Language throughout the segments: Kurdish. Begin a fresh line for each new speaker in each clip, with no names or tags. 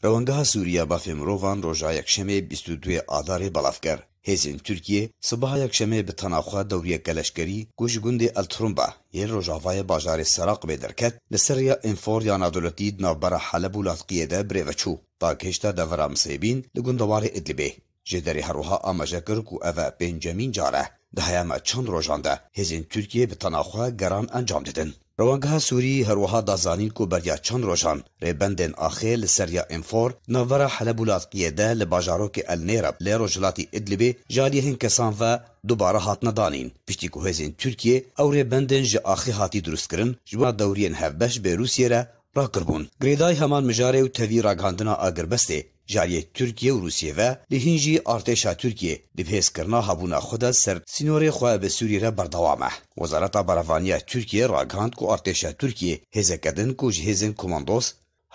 Rewengeha Sûrî ya Mafê Mirovan roja Yekşemê bîst û duê Adarê belav kir. Hêzên Tirkîyê sibeha Yekşemê bi tena xwe dewrîyeke leşkerî ku ji gundê El Trumba yên rojavayê bajarê Seraqibê derket li ser rêya Înfor ya Nadewletî di navbera Heleb û Latqîyê de birêve çû. Dagihêşta devera Misêbîn li gundewarê Idlibê. Ji derê herwiha amaje kir ku ev e pêncemîn car e di heyama çend rojan de hêzên Tirkiyeyê bi tena xwe geran encam didin. Rewangeha Sûrî herwiha da zanîn ku beriya çend rojan rêbendên axê li ser ya Infor di navbera Heleb û Latkiyê de li bajarokê El Nêreb li rojhilatî Idlibê ji aliyehên kesan ve dubare hatine danîn piştî ku hêzên Tirkiyê ew rêbendên ji axê hatî drustkirin ji bo dewriyên hevbeş bê Rûsyê re rakiribûn. Girêdayî heman mijarê û tevî ragihandina agirbestê. Ji aliyê Tirkiye û Rûsiyê ve lê hîn jî artêşa Tirkiyê di bi hêzkirina habûna xwe de ser sînorê xwe bi Sûriyê re berdewam e. Wezareta Berevaniya ya Tirkiyê ragihand ku artêşa Tirkiyê hêzeke din ku ji hêzên komandos,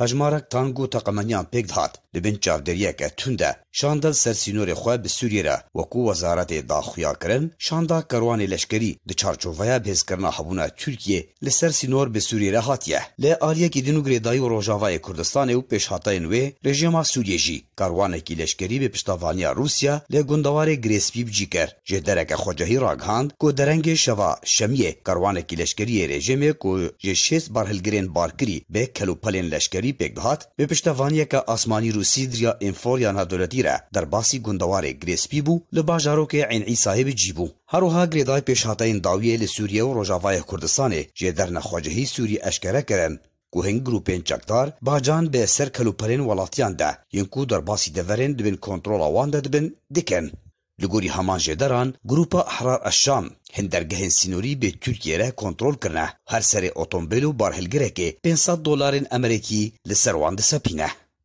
hejmarek tank û teqemeniyan pêk dihat di bin çavdêriyeke tund de şandin ser sînorê xwe bi Sûriyê re weku wezaretê daxuyakirin şanda kerwanê leşkerî di çarçoveya bi hêzkirina habûna Tirkiyê li ser sînor bi Sûriyê re hatiye. Li aliyekî din û girêdayî û rojavayê Kurdistanê û pêşhateyên wê, rejîma Sûriyê jî karwanekî leşkerî bi piştavaniya Rûsya li gundewarê Girêspî bi cî kir. Ji dereke xwecehî ragihand ku derengê şeva şemiyê karwanekî leşkerî yê rejîmê ku ji şêst barhilgirên barkirî bi kelûpelên leşkerî pêk dihat, bi piştevaniyeke asmanî Rûsî diriya înfol ya navdewletî re derbasî gundewarê Girêspî bû, li bajarokê Eyn Îsayê bi cî bû. Herwiha girêdayî pêşhateyên dawiyê li Sûriye û Rojavayê Kurdistanê jê der nexwecihî Sûrî eşkere kirin ku hin grûpên çekdar bacan bi ser kelûperên welatiyan de yên ku derbasî deverên di bin kontrola wan de dibin dikin. Li gorî heman jê deran grûpa Ehrar Eşşam hin dergehên sînorî bê Tirkiyê re kontrol kirine û her serê otombêl û barhilgirekê pênc sed dolarên emerekî li ser wan disepîne.